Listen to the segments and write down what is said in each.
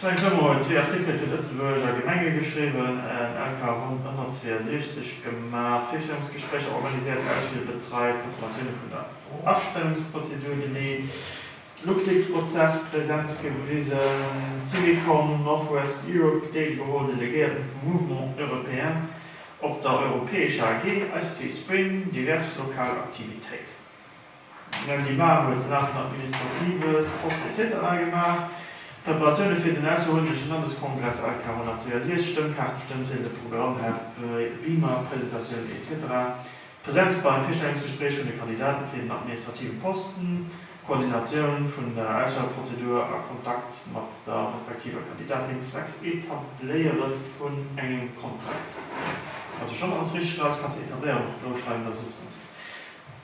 Sven Clement huet zwee Artikele fir d'Lëtzebuerger Gemenge geschriwwen, en LK Ronn ënner 62 gemaach, Virstellungsgespréicher organiséiert, Ausflier betreit, Preparatioune vun der Astëmmungsprozedur geleet, LuxLeaks-Prozess Presenz gewisen, Syvicol, Northwest Europe deelgeholl, Delegéierten vum Mouvement européen op der europäescher AG, ICT Spring, divers lokal Aktivitéiten. D'Mme Dimar huet den Acte administratives, post etc gemaach, d'Preparatioune fir den ausserordenleche Landeskongress Alk 466, Stëmmkaarten, Stëmmziedele, Programm, Heft, Beamer, Presentatioun etc, d'Presenz beim Virstellungsgespréich vun de Kandidaten fir den administrativen Posten, d'Koordinatioun vun der Auswahlprozedur a Kontakt mat der respektiver Kandidatin zwecks Etabléiere vun engem Kontrakt, ass jo schonn alles richteg, Lausgaass, Etabléiere mat groussschreiwender Substantiv.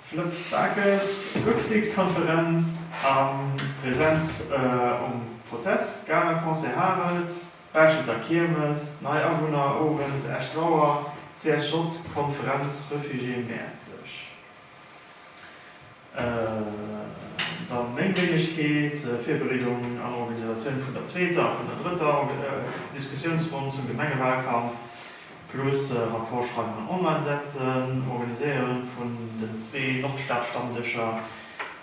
Flëpp Bakes, Luxleaks-Konferenz a Presenz um Prozess, Galer Concert Harel, Bauschelter Kiermes, nei Awunner owes, Esch-Sauer, CSJ Konferenz, Refugié Mäerzeg. Dann meng Wéinegkeet, Virbereedung an Organisatioun vun der zweeter a vun der drëtter Diskussiounsronn zum Gemengewahlkampf. Plus Rapport schreiwen an online setzen, Organiséieren vun den zwee Nordstad-Stammdëscher,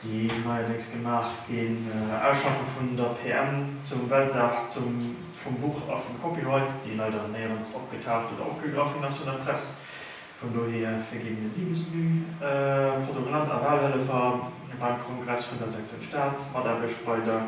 déi neierdéngs gemaach ginn, Ausschaffen vun der PM zum Weltdag vum Buch a vum Copyright, déi leider néierens opgetaucht oder opgegraff ginn ass vun der Press, vun dohier verginn mir Liebesmüh, Protokollant a Wahlhëllefer beim Kongress vun der Sektion Stad, Mataarbecht bei der.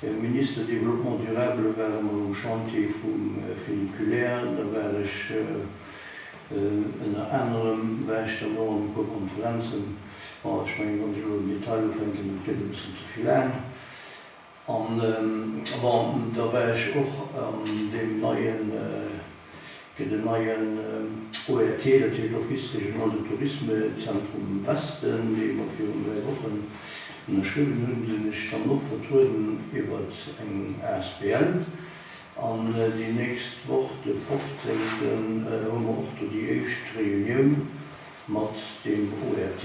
De Minister Développement durable war emol um Chantier vum Funiculaire. Da war ech ënner anerem, war ech dann och an e puer Konferenzen. Bon, ech mengen, wann ech elo am Detail ufänken, dat gëtt e bëssen ze vill laang. An bon, da war ech och an deem neien, Fir den neien ORT, dat heescht Office Régional de Tourisme, Zentrum Westen, dee mer virun dräi Wochen ënnerschriwwen hunn, sinn ech dann och vertrueden iwwert eng asbl. An déi nächst Woch, de fofzéngten, hu mer och do déi éischt Reunioun mat deem ORT,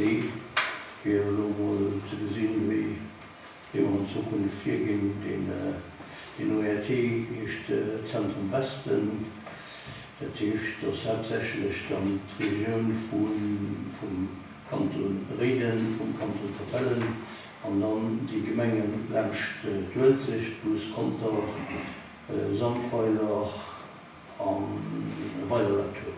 fir elo emol ze gesinn, wéi dee mer an Zukunft virginn. Deen ORT heescht Zentrum Westen. Dat heescht, dass haaptsächlech dann d'Regioun vum Kanton Réiden, vum Kanton Capellen an dann déi Gemenge laanscht d'Uelzecht, plus Conter, Sandweiler a Weiler-la-Tour.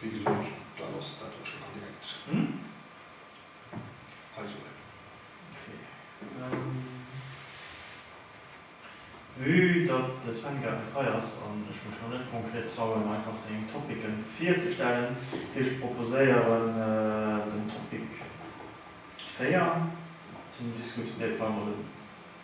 Wéi gesot, dat ass dat, wat ech nach direkt hei soen. Vue datt de Sven grad net hei ass an ech mech lo net konkret trauen, einfach seng Topicen virzestellen, géif ech proposéieren, den Topic 4 ze diskutieren.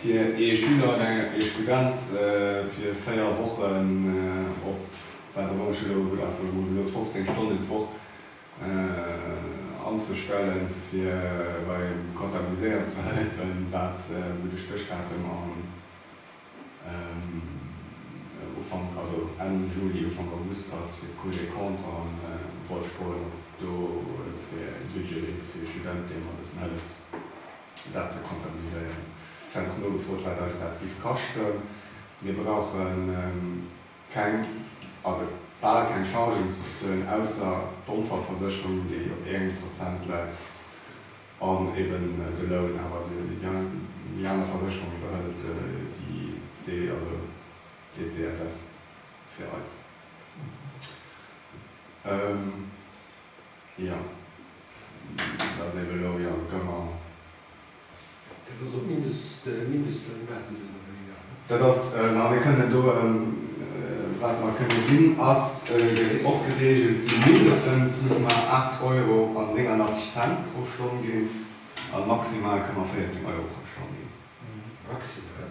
Fir ee Schüler oder ee Student fir 4 Wochen op wat och ëmmer Schüler ugëtt, einfach emol gesot 15 Stonnen d'Woch anzestellen, fir beim Kontabiliséieren ze hëllefen, wat wou de Stéchdatum am Ufank, also Enn Juli, Ufank August ass, fir d'Cours des comptes a wollt froen, ob do e Budget leeft fir ee Student, dee mer e bëssen hëlleft. dat ze kontabiliséieren. Ech hat och nogefrot, wat eis dat giff kaschten. Mir brauchen keng, also bal keng Chargen ze bezuelen, ausser d'Onfallversécherung, déi op engem Prozent läit, an eben de Loun. Awer déi aner Versécherung iwwerhëlt déi CGSS fir eis. Jo, dat leeft elo jo gëmmer. Dat ass op Mindestloun, maache se elo méi, ja. Dat ass, ma mir kënnen do, wat mer kënne ginn, ass och gereegelt ginn, mindestens musse mer 8 Euro an 89 Cent pro Stonn ginn a maximal kënne mer 14 Euro pro Stonn ginn. Maximal?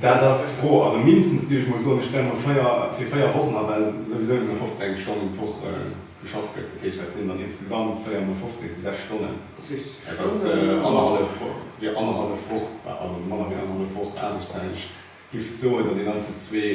Dat ass d'Fro. Also mindestens, géif ech mol soen. Ech stelle mol véier, fir véier Wochen a, well souwisou nëmme 15 Stonnen d'Woch geschafft gëtt. Dat heescht, dat sinn dann insgesamt véier mol 15, si sechs Stonnen. Dat heescht, dat ass annerhallef, jo, annerhallef Woch, also manner wéi annerhallef Woch Aarbechtszäit. Ech giff soen, datt een dann zu zwee.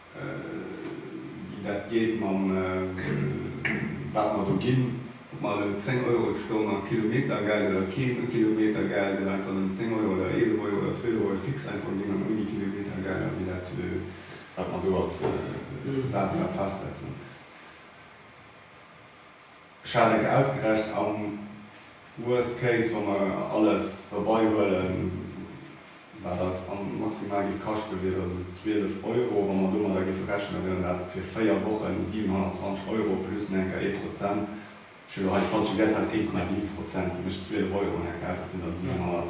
wéi dat geet mam wat mer do ginn, ob mer elo 10 Euro d'Stonn a Kilometergeld oder kee Kilometergeld oder einfach nëmmen 10 Euro oder 11 Euro oder 12 Euro fix einfach ginn an ouni Kilometergelder, wéi dat, wat mer do als Saz grad festsetzen. Ech hat et ausgerechent, am worst case, wa mer alles derbei huelen, wat eis maximal géif kaschten, wier dat esou 12 Euro. Wa mer domadder géife rechnen, da wieren dat fir véier Wochen 720 Euro plus enker ee Prozent. Ech hunn elo hei d'falsche Wäert, hei ass 1,7 Prozent, dat mécht 12 Euro enker aus, dat sinn dann 700.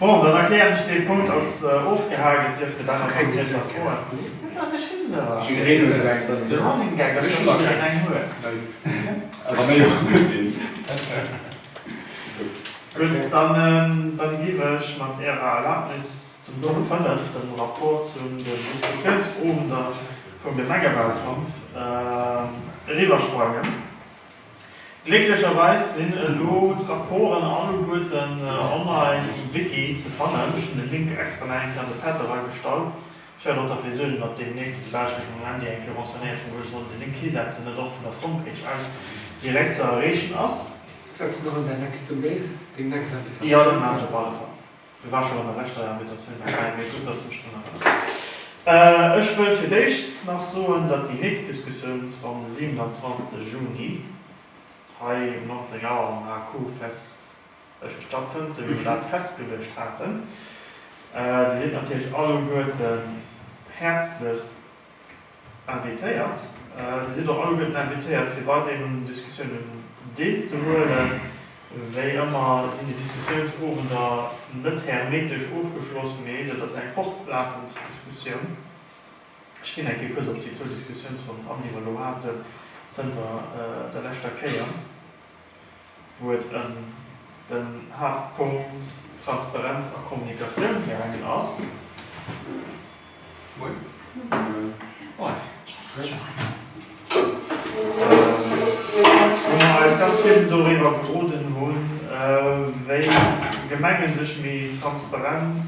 Bon, dann erklären ech dee Punkt als ofgehaakt. Et dierfte da nach konkreter Froen ginn. Dann giff ech mat Ärer Erlaubnis zum Punkt 5, dem Rapport zu den Diskussionsowender vum Gemengewahlkampf, eriwwersprangen. Glécklecherweis sinn elo d'Rapporten alleguerten online um Wiki ze fannen. Ech hunn de Link extra nach eng Kéier an de Pad eragestallt. Ech wäert och derfir suergen, datt deemnächst, soubal ech mech mam Handy eng Kéier renseignéiert hunn, wou ech sollen de Link hisetzen, et och vun der Frontpage aus direkt ze erreechen ass. Setz en och an däi nächste Mail, deng nächst Invitatioun. Jo, dat maachen ech op alle Fall. Hie war schonn an der leschter Invitatioun derbäi, mee gutt, dass du mech drun erënners. Ech wëll fir d'éischt nach soen, datt déi nächst Diskussioun zwar um de 27 Juni hei um 19 Auer am HQ-Fest Esch stattfënnt, esou wéi mer dat festgeluecht haten. Dir sidd natierlech alleguerten häerzlechst invitéiert. Dir sidd och alleguerten invitéiert fir weiderhin un Diskussiounen Deel ze huelen. Wéi ëmmer sinn déi Diskussiounsowender net hermetesch ofgeschloss, mee dat ass eng fortlafend Diskussioun. Ech ginn eng Kéier kuerz op déi zwou Diskussiounsronnen an, déi mer elo haten zënter der leschter Kéier. wou et ëm den Haaptpunkt Transparenz a Kommunikatioun gaangen ass. Wou mer eis ganz vill doriwwer gedroden hunn, wéi Gemenge sech méi transparent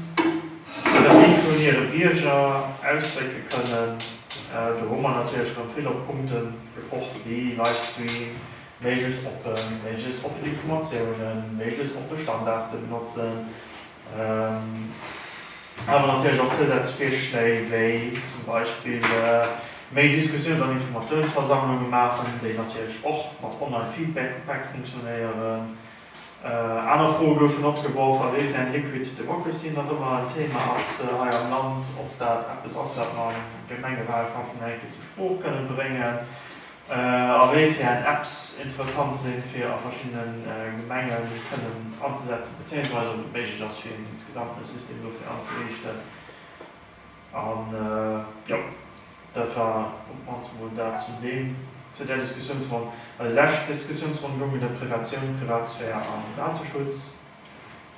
vis-à-vis vun hire Bierger ausdrécke kënnen. Do hu mer natierlech erëm vill op Punkte gepocht wéi Livestream, Méiglechst oppen, méiglechst oppen Informatiounen, méiglechst oppe Standarten benotzen, awer natierlech och zousätzlech Virschléi wéi zum Beispill méi Diskussiouns an Informatiounsversammlunge maachen, déi natierlech och mat Online-Feedback funktionéieren. Aner Froe goufen opgeworf, awéifern Liquid Democracy nach ëmmer en Theema ass hei am Land, ob dat eppes ass, wat mer am Gemengewahlkampf nach eng Kéier zur Sprooch kënnen bréngen, A wéi fir eng Apps interessant sinn, fir a verschiddene Gemenge kënnen anzesetzen, bezéiungsweise ob et méiglech ass, fir een insgesamt e System dofir anzeriichten. An jo, dat war op d'mannst mol dat zu deem, zu där Diskussiounsronn. Eis lescht Diskussiounsronn goung et ëm Privatioun, Privatsphär an Dateschutz,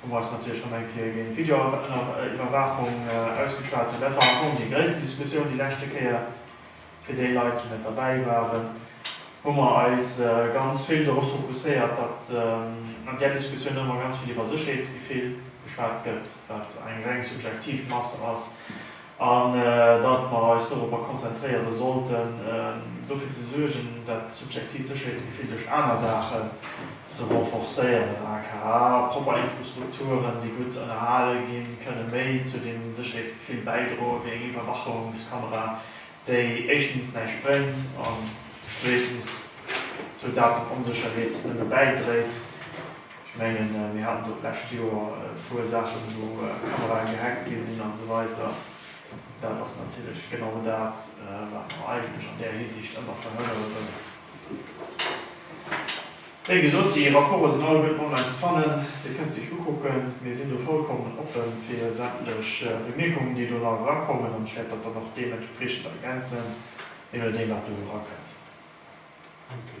wou mer eis natierlech nach eng Kéier géint d'Videoiwwerwaachung ausgeschwat hunn. Dat war am Fong déi gréissten Diskussioun déi leschte Kéier. Fir déi Leit, déi net derbäi waren, hu mer eis ganz vill dorop fokusséiert, datt an där Diskussioun ëmmer ganz vill iwwer Sécherheetsgefill geschwat gëtt, wat eng reng subjektiv Mass ass, an datt mer eis doropper konzentréiere sollten, dofir ze suergen, dat subjektivt Sécherheetsgefill duerch aner Saache ze renforcéieren, aka propper Infrastrukturen, déi gutt ënnerhale ginn, kënne méi zu deem Sécherheetsgefill bäidroen, wéi eng Iwwerwachungskamera. déi éischtens näischt bréngt an zweetens zur Datenonsécherheet nëmme bäidréit. Ech menge mir haten do d'lescht Joer e puer Saachen, wou Kamerae gehackt gi sinn a sou weider. Dat ass natierlech genau dat, wat mer eigentlech an där Hisiicht ëmmer verhënnere wëllen. Wéi gesot, déi Rapporte sinn alleguerten online ze fannen. Dir kënnt se iech ukucken. Mir sinn do vollkommen oppe fir sämtlech Bemierkungen, déi do nach erakommen. An ech wäert dat dann och deementspriechend ergänzen, jee nodeem, wat do erakënnt. Merci.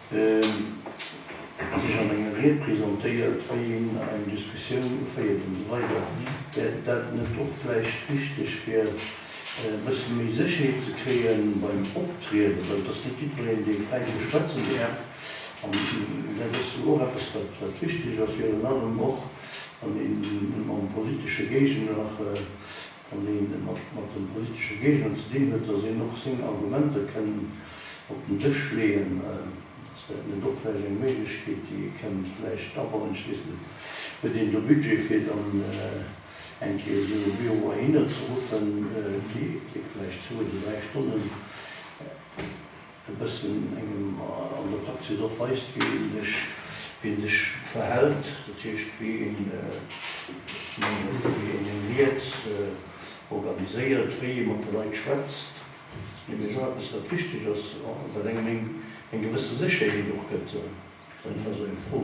Et huet sech an enger Ried presentéiert, wei een eng Diskussioun uféiert an esou weider. Wär dat net och vläicht wichteg fir e bësse méi Sécherheet ze kréie beim Optrieden, well et ass net jiddwereen dee fräi sou schwätzen däerf an dat ass jo och eppes wat wichteg ass, virun allem och wann een mam politesche Géigner Wann een et mat den touristesche Géigenden ze dinn huet, datt een och seng Argumenter kënn op den Dësch leeën, ass dat net och vläicht eng Méiglechkeet, déi ee kënnt vläicht abannen? Ech weess net, huet een do Budget fir dann eng Kéier esou e Büro heihinner ze ruffen, dee vläicht zwou oder dräi Stonnen, e bëssen engem an der Praxis och weist, wéi ee sech, wéi ee sech verhält, dat heescht, wéi een, wéi een seng Ried organiséiert, wéi ee mat de Leit schwätzt. Dat ass och eppes, wat wichteg ass, wat engem eng gewësse Sécherheet och gëtt. Dat ass einfach esou eng Fro.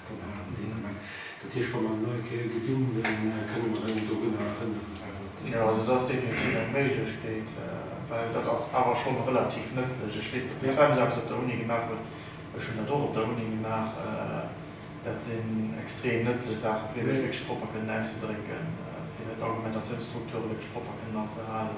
Jo, also dat ass definitiv eng Méiglechkeet, well dat ass awer schonn relativ nëtzlech. Ech weess, datt de Sven esou eppes op der Uni gemaach huet, ech hunn dat och op der Uni gemaach. Dat sinn extrem nëtzlech Saachen, fir sech wierklech propper kënnen auszedrécken, fir d'Argumentatiounsstrukture wierklech propper kënnen anzehalen.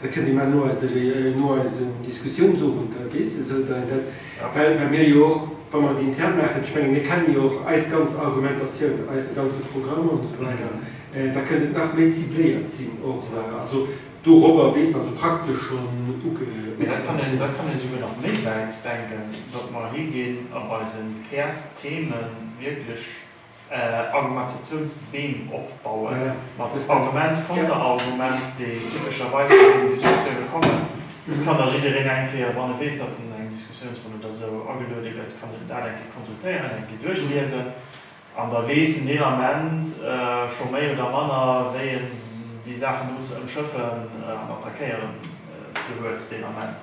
Dat kënnt ëmmer no eise Réunion, no eisen Diskussiounsowend, da weess e sou, datt dat, well wat mir jo och, wa mer et intern maachen, ech menge mir kennen jo och eis ganz Argumentatioun, eise ganze Programm an esou weider, da kënnt et nach méi cibléiert sinn och. Also dorobber, weess de, also praktesch schonn ugepaakt sinn. Da kann een souguer nach méi wäit denken, datt mer higinn an eise Kärthemen wierklech, Argumentatiouns Beem opbauen, mat Argument, Konterargument, déi typescherweis bei deenen Diskussioune kommen. Et kann da jiddereen eng Kéier, wann e weess, datt en eng Diskussiounsronn oder esou ageluede gëtt, kann en dat eng Kéier konsultéieren, eng Kéier duerchliesen an da weess en deen Ament scho méi oder manner, wéi en déi Saachen do ze ëmschëffen an attackéieren ze huet deen Ament.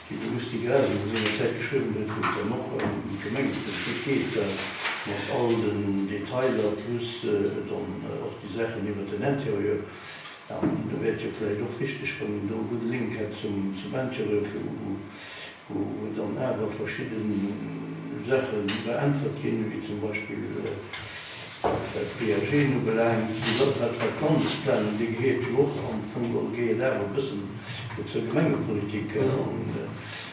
Wéi de Gusty Graas elo sengerzäit geschriwwen huet, wou et dann och ëm d'Gemengepolitik geet, da mat all den Detailer plus dann och déi Saachen iwwert den Intérieur, an da wär et jo vläicht och wichteg, wann een do e gudde Link hätt zum Intérieur, vu wou dann awer verschidde Saache beäntwert ginn, wéi zum Beispill, Wat d'Viageen ubelaangt, sou gëtt dat Vakanzplanen, dee gehéiert jo och am Fong och géi et awer e bëssen zur Gemengepolitik.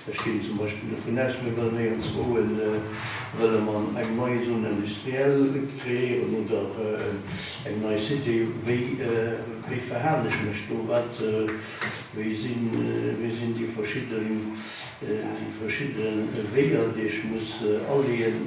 Ech ginn zum Beispill dovun aus, mir wëllen éierenzwouë wëlle mer eng nei Zone industrielle kreéieren oder eng nei Cité. Wéi wéi verhalen ech mech do? Wat wéi sinn wéi sinn déi verschidde déi verschidde Weeër, déi ech muss aleeën?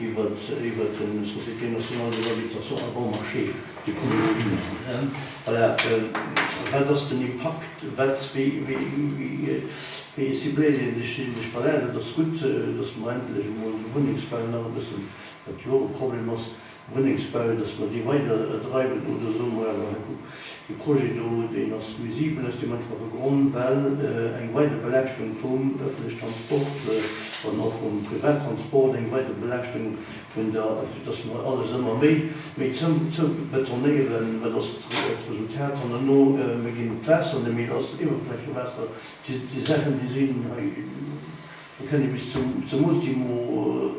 iwwert de Société Nationale des Habitations à Bon Marché, de Communes, voilà, wat ass den Impakt, wat, wéi, wéi, wéi, wéi cibléiert ee sech, sinn ech valable? Et ass gutt, datt mer endlech emol de Wunnengsbau nach e bëssen, wat jo och e Problem ass, Wunnengsbau, datt mer dee weiderdreiwen, oder soe mer awer, hey, kuck, Dee Projet do, deen ass nuisibel aus deem einfache Grond, well eng weider Belaaschtung vum öffentliche Transport an och vum Privattransport, eng weider Belaaschtung vun der, fir dass mer alles ëmmer méi, méi zoubetonéieren, wat ass d'Resultat hannerno? Mir ginn d'Waasser net méi lass, Iwwerflächewaasser, déi Saachen, déi sinn hei, do kennt ee bis zum Ultimo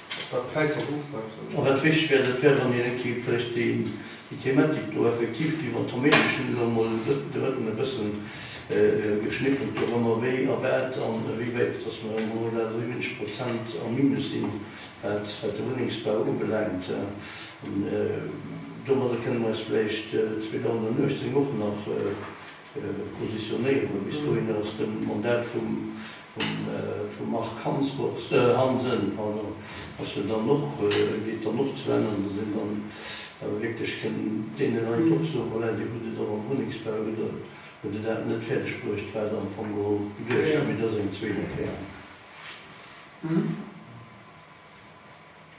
An wat wichteg wär, dat wär, wann een kéint vläicht déi Thematik do effektiv, déi mer d'Homéilesch hunn, elo emol drëtten e bëssen geschniffelt, dorëmmer wéi a wat an ewéiwäit dass mer emol elo dat 70 Prozent am Minus sinn, wat de Wunnengsbau ubelaangt. Domadder kënnen mer eis vläicht 2018 och nach, Positionéierungen. Bis dohinner ass de Mandat vum Marc Hansen geet dann och zu Enn, an datt een dann awer wierklech kënn deene Leit och soen, voilà, dir hutt et och am Wunnengsbau, hutt der dat net fäerdeg bruecht, wat der am Fong geholl geduecht hat, mee dat ass eng zweet Affär.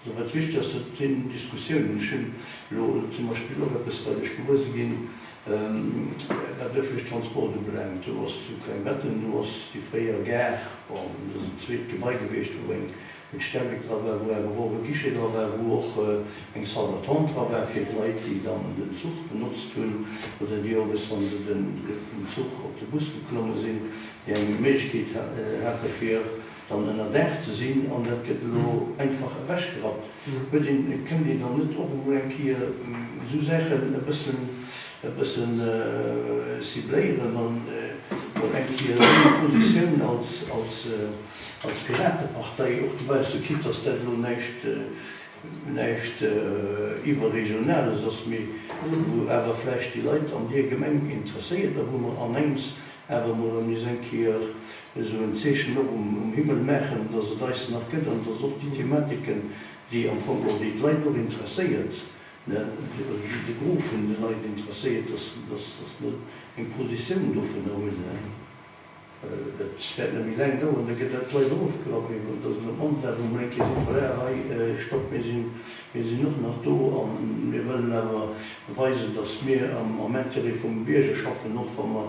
Wat ass wichteg ass, dat sinn Diskussiounen. Ech hunn elo zum Beispill och eppes, wat ech gewuer ginn, wat ëffentleche Transport ubelaangt. Do ass zu Klengbetten, do ass déi fréier Gare, bon, dat ass en zweet Gebai gewiescht, wou eng Stellwéck dra war, wou awer och e Guichet dra war, wou och eng Salle d'attente dra war fir d'Leit, déi dann den Zuch benotzt hunn oder déi owes, wa se vum Zuch op de Bus geklomme sinn, déi eng Méiglechkeet hate fir dann ënnerdaach ze sinn an dat gëtt elo einfach ewechgerappt, huet een, kënnt een dann net och emol eng Kéier esou Saachen e bëssen, e bëssen cibléieren an mol eng Kéier seng Positioun als, als, als Piratepartei och dobausse, quitte dass dat elo näischt, näischt iwwerregionales ass, mee wou awer vläicht déi Leit an deer Gemeng interesséiert a wou mer anengems awer mol an is eng Kéier esou en Zeechen och um Himmel maachen, dass et eis nach gëtt an dass och déi Thematiken, déi am Fong och, déi d'Leit och interesséiert, also déi de Gros vun de Leit interesséiert, dass mer eng Positioun dovunner hunn. Dat wäert net méi laang dauern, da gëtt dat d'Leit och ofgerappt. Mee et ass net op mannst dat, wou mer eng Kéier sinn, voilà, hei, stopp, mir sinn och nach do a mir wëllen awer weisen, dass mir am Intérêt vum Bierger schaffen, och wa mer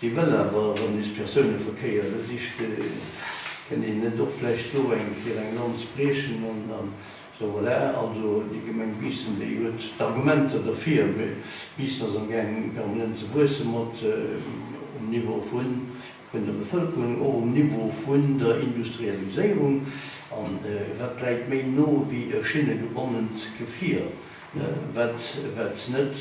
Hie wëll awer erëm nees Persouneverkéier, da sicht hien, Kënnt een net och vläicht do eng Kéier eng Lanz briechen an esou. Voilà, also déi Gemeng Biissen, déi huet d'Argumenter derfir. Mee Biissen ass amgaang permanent ze wuesse mat um Niveau vun der Bevëlkerung, och um Niveau vun der Industrialiséierung. An wat läit méi no wéi e schinnegebonnent Gefier, wat net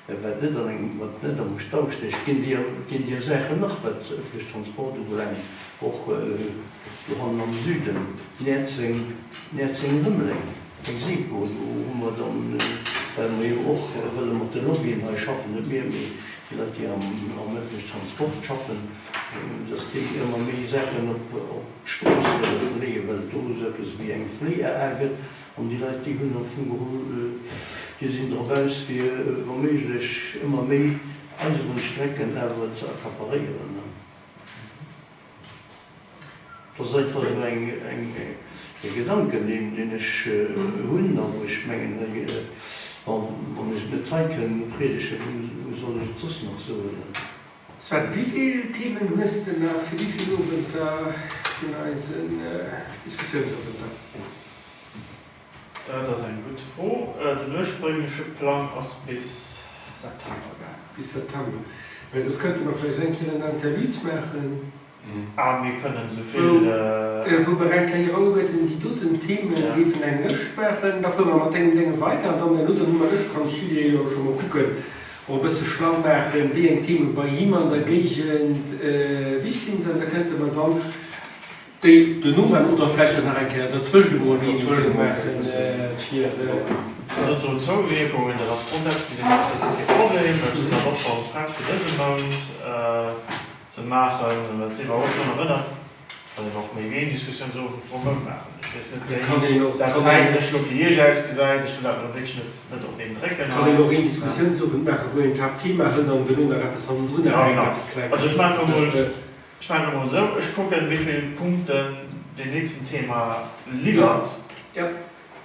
Dat wat net an engem, wat net am Stau stécht, ginn déi, ginn déi a Saachen nach, wat öffentliche Transport ubelaangt, och do hannen am Süden, Näerzeng, Näerzeng-Rëmeleng, eng SEPO. Do hu mer dann, well mer jo och wëlle mat de Lobbyen hei schaffen, net mir, mee déi Leit, déi am, am öffentliche Transport schaffen, dass déi ëmmer méi Saachen op, op d'Strooss leeë, well et do esou eppes ewéi eng Fléi-AA gëtt, An déi Leit, déi hunn der vu geholl, déi sinn drop aus, fir wa méiglech ëmmer méi eiseren Strecken awer ze accaparéieren. Dat ass einfach esou eng, eng, e Gedanken, deen, deen ech hunn a wou ech mengen, hei, bon, wann ech et net hei kënnen upriedegen, wou soll ech et soss nach soen? Sven, wivill Themen hues de nach fir wivill Owenter vun eisen Diskussiounsowenter? Dat ass eng gutt Fro. Den urspréngleche Plang ass bis September gaangen. Bis September. Mä soss kënnte mer vläicht eng Kéier en Interlude maachen. A mir kënnen esou vill. Wou mer eng Kéier ugebuet hunn, déi doten Themen géifen eng Lëscht maachen. Da fuere mer mat deenen Dénge weider. An dann herno hu mer Lëscht. Kann de Julien jo scho mol kucken, och e bësse schlau maachen, wéi eng Themen bei him an der Géigend wichtig sinn. An da kënnte mer dann déi den Owend oder vläicht och nach eng Kéier derzwëschent emol een Sujet maachen, fir. Dann soen d'Zouwierkungen. Dat ass grondsätzlech gesinn absolut kee Problem. Ech sinn awer och scho prett fir dëse Mount. ze maachen, wat si iwwerhaapt drun erënnert, kann een och méi wéi een Diskussiounsowend drumherum maachen. Ech weess net, wéi dat zäitlech elo fir Iech ausgesäit. Ech wëll dat elo wierklech net, net op een drécken hei. Et kann een och een Diskussiounsowend maachen, wou een d'Haaptthema hëlt an duerno nach eppes hannendrun nach eng, eppes Klenges. Also ech maachen emol, ech maachen emol esou, ech kucken, wéi vill Punkten deen nächsten Thema liwwert.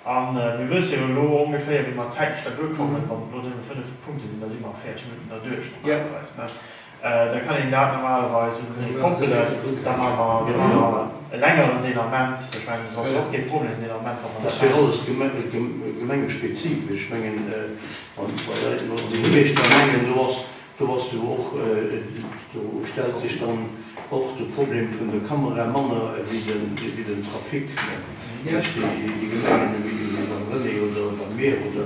A mir wësse jo elo ongeféier, wéi mer zäitlech da duerkommen. Wann et elo nëmme fënnef Punkte sinn, da si mer a 40 Minutten derduerch normalerweis. Da kann een dat normalerweis un d'Uni koppelen. Da maache mer, da maache mer e längeren Delarmement. Ech mengen, dat ass jo och kee Problem, den Delarmement, wa mer dat maachen. Dat ass jo alles gemengespezifesch. Ech mengen, wann d'Leit elo an de Himmel steigen, mengen ech, do ass Do ass jo och, do stellt sech dann och de Problem vun der Kamera manner ewéi den Trafic, nämlech déi Gemengen ewéi beim René oder bei mir. Oder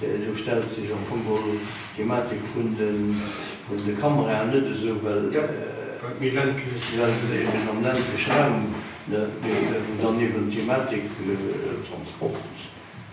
do stellt sech am Fong geholl d'Thematik vun de Kameraen net esou, well eben am ländleche Raum, wou dann eben d'Thematik Transport,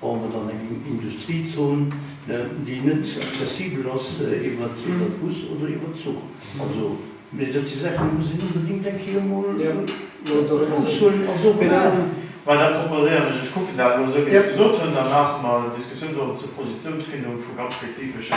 Bauen mer dann eng Industriezon, déi net accessibel ass iwwert Bus oder iwwert Zuch? Also, mee dat si Saachen, déi muss een onbedéngt eng Kéier emol ofsuen a soen, Voilà! Well dat proposéieren ech, ech kucken dat elo esou, wéi ech gesot hunn, dann maache mer Diskussiounssonn zur Positiounsfindung vu ganz spezifesche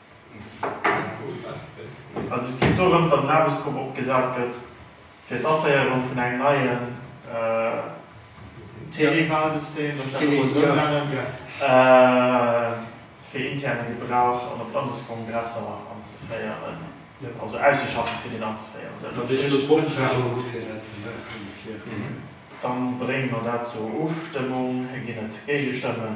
Also et geet dorëms, datt en Aarbechtsgrupp opgesat gëtt, fir d'Aféierung vun engem neien Téléwalsystem, soll ech dat emol esou nennen, fir interne Gebrauch an op Landeskongresser anzeféieren, also auszeschaffen, fir deen anzeféieren. Esou ënnerm Strich. Da brénge mer dat zur Ofstëmmung. Ginn et Géigestëmmen?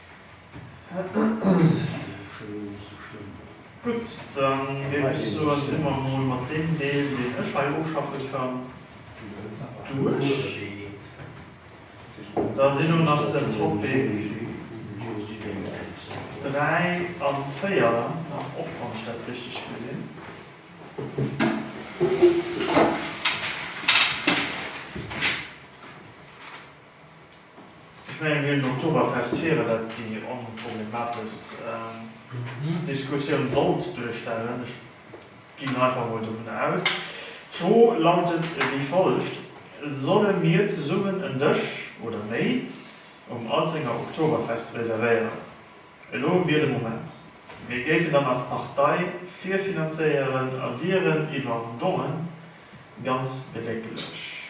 Gutt, dann géif ech soen, si mer emol mat deem Deel, deen ech hei ofschaffe kann, duerch. Da ass elo nach den Topic 3 a 4 nach op, wann ech dat richteg gesinn. Ech mengen, déi Oktoberfestfeiere wäert déi onproblemateschst Diskussioun sollt duerstellen. Ech ginn einfach mol dovun aus. D'Fro lautet wéi follegt, Solle mir zesummen en Dësch oder méi um Alzenger Oktoberfest reservéieren? Elo wier de Moment. Mir géifen dann als Partei virfinanzéieren a wieren iwwer Dongen ganz bedekelech.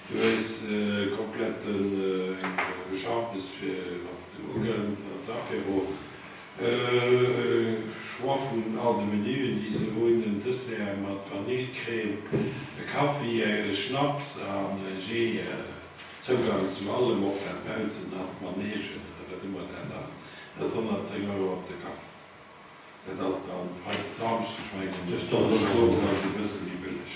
Du hues kompletten Geschaftes fir wanns de ugënns als Apéro. Choix vun all de Menuen déi se hunn, en Dessert mat Vanillecrème, e Kaffi, e Schnaps an e Jee. Zougang zu allem, ob dat baussen ass, Manegen oder wat ëmmer dat ass, ass 110 Euro op de Kapp. Dat ass dann Freideg, Samschdeg mengen ech, Donneschdeg ass e bësse méi bëlleg.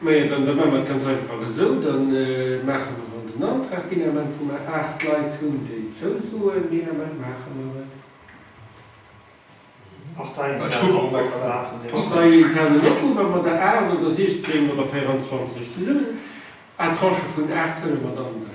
Mä jo, dann, da maache mer et ganz einfach esou, da maache mer en, den Antrag, deen Ament, wou mer aacht Leit hunn, déi zousoen, deen Ament maache mer et. Parteiinternen Opruff maachen déi. Parteiinternen Opruff, a mat der aacht oder siechzéng oder véierenzwanzeg zesummen, à tranche vun aacht, huele mer dann de.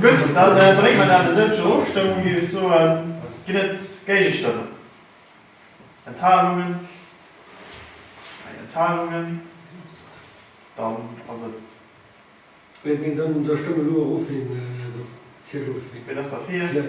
Gutt, da brénge mer dat esou zur Ofstëmmung, géif ech soen. Ginn et Géigestëmmen? Enthalungen? Keng Enthalungen. Dann ass et. Da stëmme elo erofwéi en zielt of. Wien ass derfir?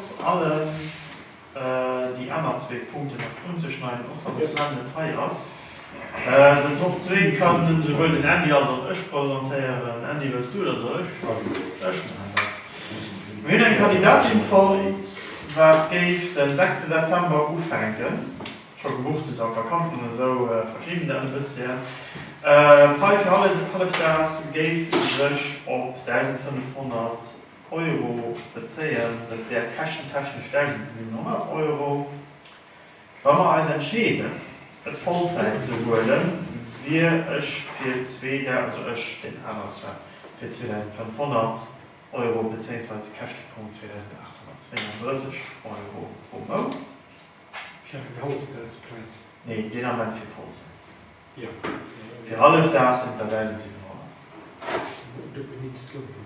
Trotz allem déi aner zwee Punkten nach unzeschneiden, och wann de Sven net hei ass. Den Top zwee kann esouwuel den Andy als och ech presentéieren. Andy, wëlls du et oder soll ech? Ech maachen dat. Mir hunn eng Kandidatin fonnt, wat géif de sechste September ufänken, scho gebucht, se ass an d'Vakanzen an esou. Verschieben dat e bësschen. D'Pai fir hallefdaags géif sech op 1.500. Euro bezéien, dat wär käschentechnesch 1.700 Euro. Wa mer eis entscheeden, et Vollzäit ze huelen, wier ech fir 2000, also ech, deen anere Sven, fir 2.500 Euro bezéiungsweise Käschtepunkt 2.832 Euro pro Mount. Fir eng Hallefdagsplaz? Nee, deen Ament fir Vollzäit. Fir Hallefdag sinn et der 1.700. Dofir misst et lounen.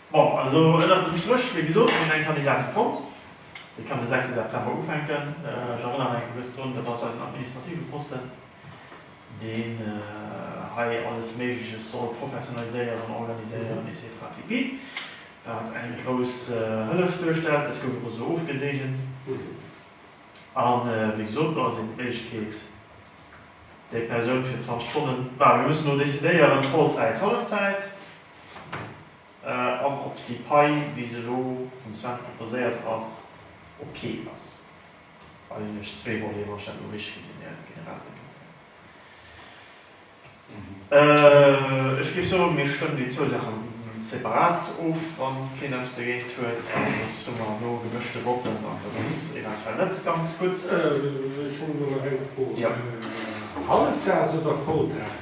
Bon, also ënnert dem Stréch, wéi gesot, hunn mir eng Kandidatin fonnt. Déi kann de sechste September ufänken. Ech erënneren nach eng Kéier kuerz drun, dat ass eisen administrative Posten, deen hei alles Méigleches soll professionaliséieren, organiséieren et cetera pp. Wat eng grouss Hëllef duerstellt. Dat gouf och esou ofgeseegent. A wéi gesot, do ass eben d'Méiglechkeet, déi Persoun fir 20 Stonnen, bah, mir mussen elo decidéieren, Vollzäit, Hallefzäit, an ob déi Pai, wéi se elo vum Sven proposéiert ass, ok ass. Well hunn ech zwee Voleten, wann ech dat elo richteg gesinn hir Generalsekretär. Ech géif soen, mir stëmmen déi zwou Saache separat of, wa keen eppes dergéint huet. An soss hu mer elo gemëschte Votten an dat ass eventuell net ganz gutt. Ech hunn elo nach eng Fro, Hallefdaags oder Volldaag?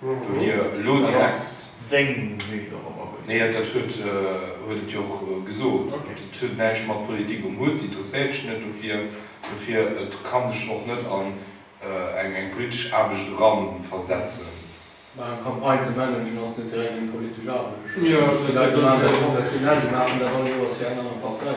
Do hir elo direkt. Deng Vue dorobber gutt. Nee, dat dat huet huet et jo och gesot. Dat huet näischt mat Politik um Hutt, interesséiert sech net dofir. Dofir et ka sech och net an eng eng politesch Aarbecht eranversetzen. Mä eng Campagne ze managen ass net direkt eng politesch Aarbecht. Déi Leit do maachen dat professionell, déi maachen dat all Joers fir eng aner Partei.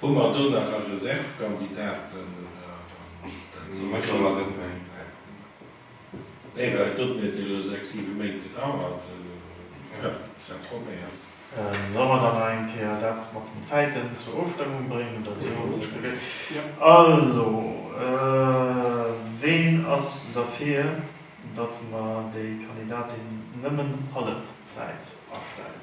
Hu mer do nach e Reservekandidaten, oder? Dat sinn ech awer net méi. Nee, well et huet mir et elo sechs, siwe Méint gedauert. Jo, ça promet. Solle mer dann nach eng Kéier dat mat den Zäiten zur Ofstëmmung bréngen, oder esou? Huet sech geweegt. Also, ween ass derfir, datt mer déi Kandidatin nëmmen hallef Zäit astellen?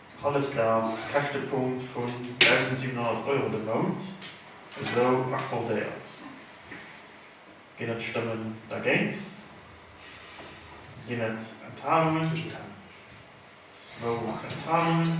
Hallefsdags Käschtepunkt vun 1.700 Euro de Mount esou accordéiert. Ginn et Stëmmen dergéint? Ginn et Enthalungen? Zwou Enthalungen.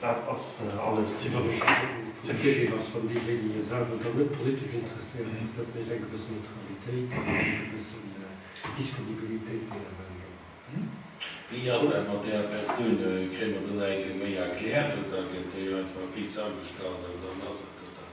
Dat ass alles ze wenig. De Virdeel ass, wann deejéinege selwer dann net politesch interesséiert ass, dat mécht eng gewësse Neutralitéit an eng gewësse Disponibilitéit méi available. Wéi ass dat mat där Persoun? Kréie mer dann eng méi erkläert oder gëtt déi einfach fix agestallt an dann ass et dat?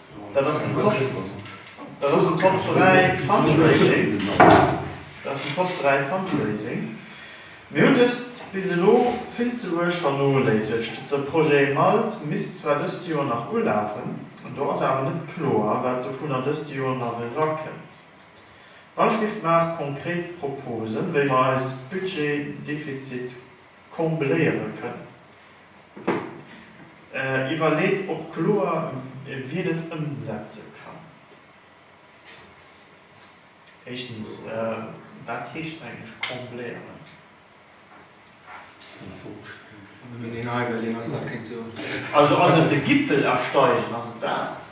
Dat ass den Top, dat ass den Top 3 Fundraising, dat ass den Top 3 Fundraising. Mir hunn dëst bis elo vill ze uerg vernoléissegt. De Projet Malt misst zwar dëst Joer nach ulafen, an do ass awer net kloer, wat dovunner dëst Joer nach erakënnt. D'Bauschrift maacht konkret Proposen, wéi mer eis Budgetdefizit combléiere kënnen. Iwwerleet och kloer, wien et ëmsetze kann. Éischtens, wat heescht eigentlech combléieren? Also ass et de Gipfel ersteigen? Ass et dat?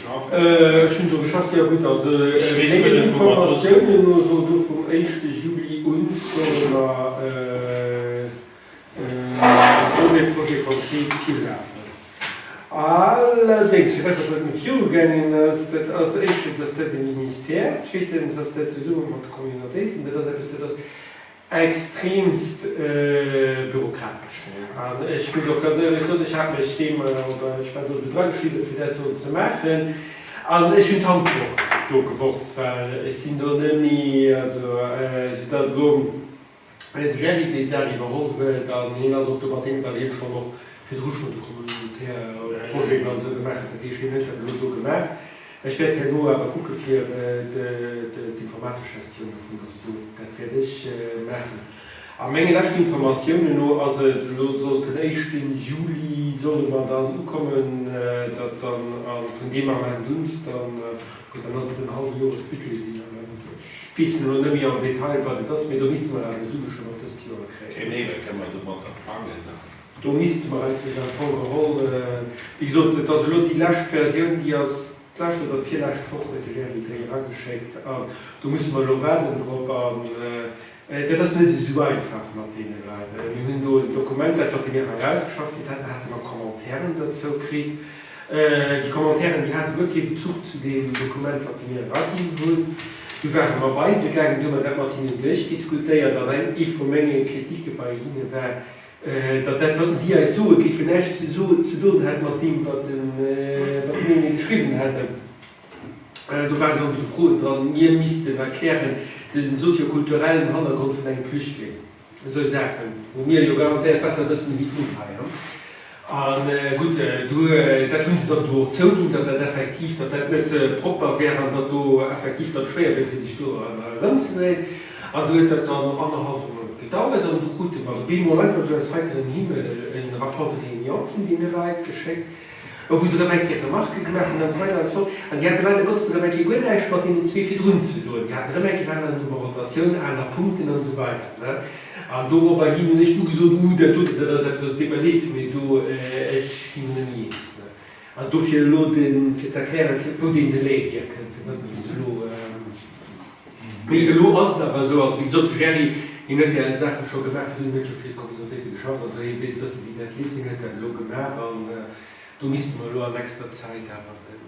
Ech hunn do geschafft, jo gutt, also mengen Informatiounen no soll do vum éischte Juli un, solle mer esou ee Projet concret ulafen. Allerdéngs, fir dat wat net virugaangen ass, dat ass, éischtens ass dat e Ministère, zweetens ass dat zesumme mat de Communautéiten, dat ass eppes, dat ass, extremst bürokratesch wär. An ech muss och ganz éierlech soen, ech hat mech deem, oder ech war do esou drageschriwwen, fir dat sollen ze maachen, an ech hunn d'Handwurf do geworf, well ech sinn do net méi, also soudatt elo de Gerry déi Saach iwwerholl huet, an hien ass och do mat deem, well hie schonn och virdru schonn de communautaire Projet an esou gemaach huet, dat heescht, hien huet dat elo do gemaach. Ech wäert herno awer kucke fir d'informatesch Gestioun dovun, dass do, dat wäert ech maachen. A menge leschten Informatiounen no ass et elo, sollt den éischten Juli solle mer dann ukommen, datt dann a vun deem Ament uns dann, gutt, dann ass et den hallwe Joresbudget deen dann ëm gëtt. Ech weess elo net méi am Detail wat et ass, mee do misste mer awer Sue schonn op dëst Joer kréien. Genee, da kënne mer domatter plangen. Do misste mer eigentlech am Fong geholl, wéi gesot, et ass elo déi lescht Versioun, déi ass d'lescht oder d'virlescht Woch huet de Jerry déi erageschéckt an do musse mer elo waarden drop. An dat ass net esou einfach mat deene Leit. Mir hunn do en Dokument, dat wat déi mir erausgeschafft kritt haten, hate mer Commentairen dozou kritt. Déi Commentairen, déi hate guer kee Bezuch zu deem Dokument, wat déi mir eraginn hunn. Du ware mer bei se gaangen, du hu mer dat mat hinnen duerchdiskutéiert an eng vu menge Kritike bei hinne war, Datt dat, wat en si eis soe géifen, näischt ze doen hätt mat deem, wat mir hinne geschriwwen hätten. Do waren dann esou Froen dran, mir missten erklären de soziokulturellen Hannergrond vun engem Flüchtling. Esou Saachen, wou mir jo garantéiert besser wëssen ewéi d'Nopesch. A gutt, dat hu se dann do och zouginn, datt dat effektiv, datt dat net propper wär an datt do effektiv dann schwéier wier, fir sech do erëmzedréien. An du huet dat dann annerhallwe Mount gedauert an du krute mer bemol einfach esou aus heiterem Himmel e Rapport de réunion vun deene Leit geschéckt, wou se erëm eng Kéier Remarquë gemaach hunn an esou weider an esou fort. An déi hate leider Gottes erëm eng Kéier guer näischt mat deenen zwee virdrun ze doen. Déi haten erëm eng Kéier aner Nummerotatioun, aner Punkten an esou weider, ne. An doropper hin hunn ech du gesot, Uh, dat dote, dat ass eppes, dat deet mer Leed, mee do, ech ginn erëm jees, ne. An dofir elo de fir ze erklären, wou deen Delai hierkënnt, fir dat bis elo. Elo ass et awer esou, also wéi gesot, de Gerry, hien huet där Saach jo scho gemaach, fir hien huet jo fir d'Communautéite geschafft, also hie weess e bësse wéi dat leeft. Hien huet dat elo gemaach an do misste mer elo an nächster Zäit awer en.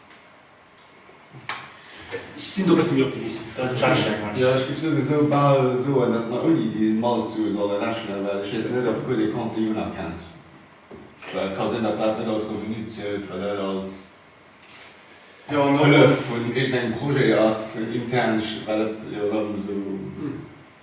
Ech sinn do e bësse méi optimistesch, datt et d'Welt schlecht mécht. Jo, ech géif souwisou bal soen, datt mer ouni déi Malzsue solle rechnen, well ech weess net, ob e puer dee Compte déi unerkennt. Well et ka sinn, datt dat net als Revenu zielt, well dat als Hëllef vun iergendengem Projet ass, intern, well et jo erëm esou.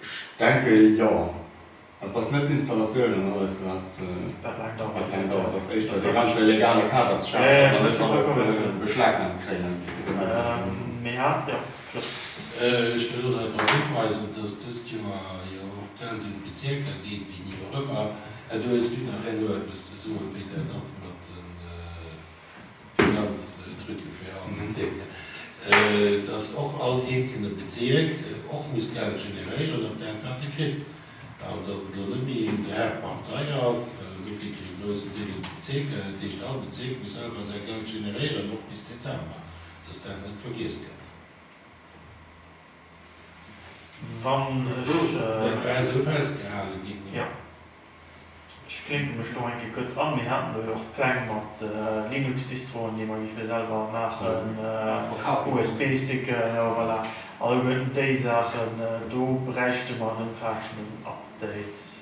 Ech denke jo. Et ass net d'Installatioun an alles wat dat laang dauert. Et ass éischter dee ganze legale Kader ze schafen, datt mer net alles beschlagnahmt kréien, eis Dokumenter. Ech wëll och nach drop hiweisen, datt dëst Joer jo och Geld un d'Bezierker geet, wéini och ëmmer. Här Dues, hutt Dir nach herno eppes ze soen, wéi dat ass mat den. Finanztrucë fir all Bezierker, dass och all eenzelne Bezierk och muss Geld generéieren op dat, wat e kritt. An dass et elo net méi een Drag par taille ass, well elo kritt een e groussen Deel un d'Bezierker. Dat heescht, all Bezierk muss selwer säi Geld generéieren, och bis Dezember, dass dat net vergiess gëtt. Dat war esou festgehale ginn. Ech knéipe mech do eng Kéier kuerz an. Mir haten do jo och Pläng mat Linux-Distroen, déi mer géife selwer maachen, USB-Sticken, jo voilà, alleguerten déi Saachen. Do bräichte mer en ëmfaassenden Update.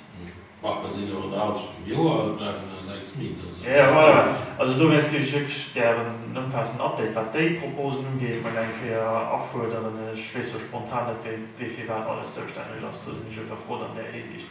Bah, mer sinn jo an der Halschent vum Joer, et bleiwen nach sechs Méint, also et ass nach méiglech. Also do wär es, géif ech wierklech gären en ëmfaassenden Update, wat déi Proposen ugeet, mol eng Kéier afuerderen. Ech weess jo spontan net, wie fir wat alles zoustänneg ass. Do sinn ech éiwer frou an där Hisiicht.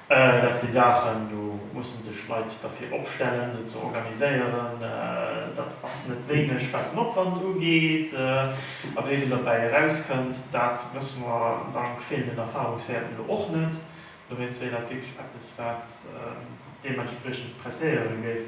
Dat si Saachen, do musse sech Leit derfir opstellen, se ze organiséieren. Dat ass net wéineg, wat den Opwand ugeet. A wéi vill dobäi erauskënnt, dat wësse mer dank feelenden Erfarungswäerten elo och net. Dowéinst wär dat wierklech eppes, wat deementspriechend presséiere géif.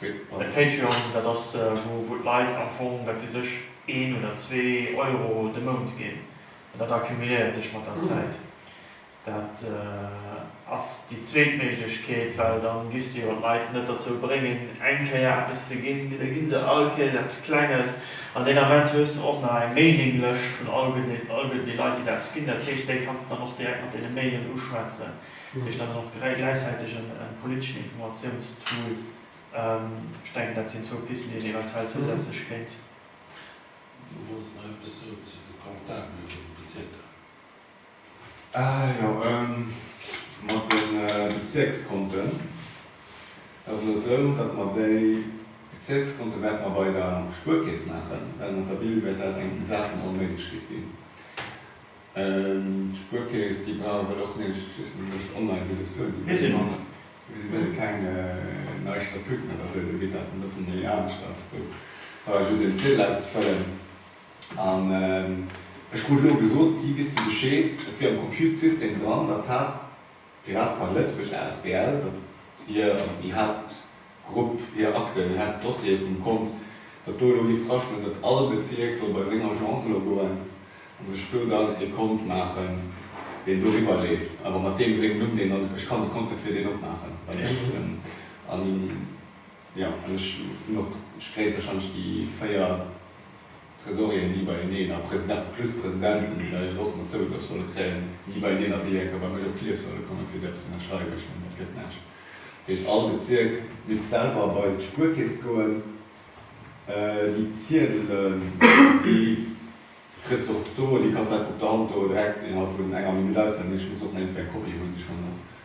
De Patreon, dat ass wou d'Leit am Fong, wat weess ech, een oder zwee Euro de Mount ginn. An dat accumuléiert sech mat der Zäit. Dat ass déi zweet Méiglechkeet, well dann giss de jo d'Leit net derzou bréngen eng Kéier eppes ze ginn, mee da ginn se all Kéiers eppes Klenges. An deen Ament hues de och nach eng Mailinglëscht vun all gëtt all gëtt déi Leit déi der eppes ginn. Dat heescht, déi kanns de dann och direkt mat deene Mailen uschwätzen. Hunn ech dann och gläichzäiteg e politeschen Informatiounstool? Ech denken, dat sinn zwou Pisten, déi een eventuell zousätzlech kéint. Du wollts nach eppes soen zu de Comptabele vun de Bezierker? Ah jo, mat de Bezierkskonten, et ass elo esou, datt mer déi Bezierkskonte wäerte mer bei der Spuerkeess maachen, well mat der Bille wäert dat eng selten Onméiglechkeet ginn. D'Spuerkeess, déi brauch et och nit, just mir mussen online sou dass d'Zuelen ewéi ëmmer sinn. Mir si wëlle keng nei Statuten oder sou, dobitt dat e bësse méi anescht ass. Do brauch ech just een Ziedel auszefëllen an ech krut elo gesot, si wéisste Bescheed, et wier am Compute-System dran, datt hat Grad wann d'Lëtzebuerg asbl, datt hir, also déi Haaptgrupp, hir Akten, hir Haaptdossiere vum Kont, datt do elo géif drastoen, datt all Bezierk soll bei seng Agence elo goen a sech do dann e Kont maachen, deen doriwwer leeft, awer mat deem sengem Numm, deen dann, ech kann de Kont net fir deen opmaachen, well ech, jo, an ech hunn och, ech kréie warscheinlech déi véier. Tresorieren ni beieneen a Presidenten plus Presidenten, déi da hiren och mat zougedroch solle kréien, ni beieneen a déi eng Kéier bei mech op Klierf solle kommen, fir eppes ze ënnerschreiwen. Ech mengen, dat gëtt näischt. Dat heescht, all Bezierk misst selwer bei sech d'Spuerkeess goen. Déi Ziedelen, déi kriss de och do, déi kanns de einfach op der Hand do direkt innerhalb vun enger Minutt ausfëllen. Ech muss och nach iergendwéi eng Kopie hunn. Ech kann och.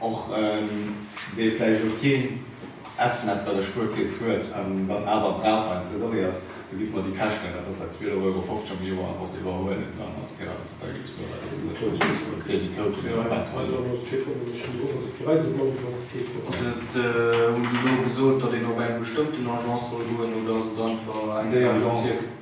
Och dee vläicht elo keen Estnet bei der Spuerkeess huet an dann awer brauch, well en Tresorier ass, do giffe mer déi Käschten, dat ass seit 12,50 Euro am Joer, och iwwerhuelen dann als Piratepartei, ginn ech sou wäit. Fir déi Touten iwwer d'Welt.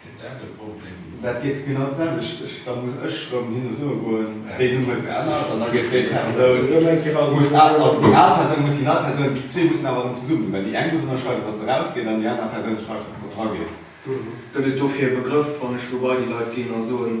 Gëtt dat e Problem? Dat gëtt genau d'selwecht. Da muss ech erëm hinne soe goen, Déi Numm huet geännert. An da gëtt déi Persoun, also déi al Persoun muss déi nei Persoun, déi zwee mussen awer erëm zesummen, well déi eng muss ënnerschreiwen, datt se rausgeet, an déi aner Persoun schreift, datt se drageet. Gëtt et dofir e Begrëff, wann ech elo bei déi Leit ginn a soen,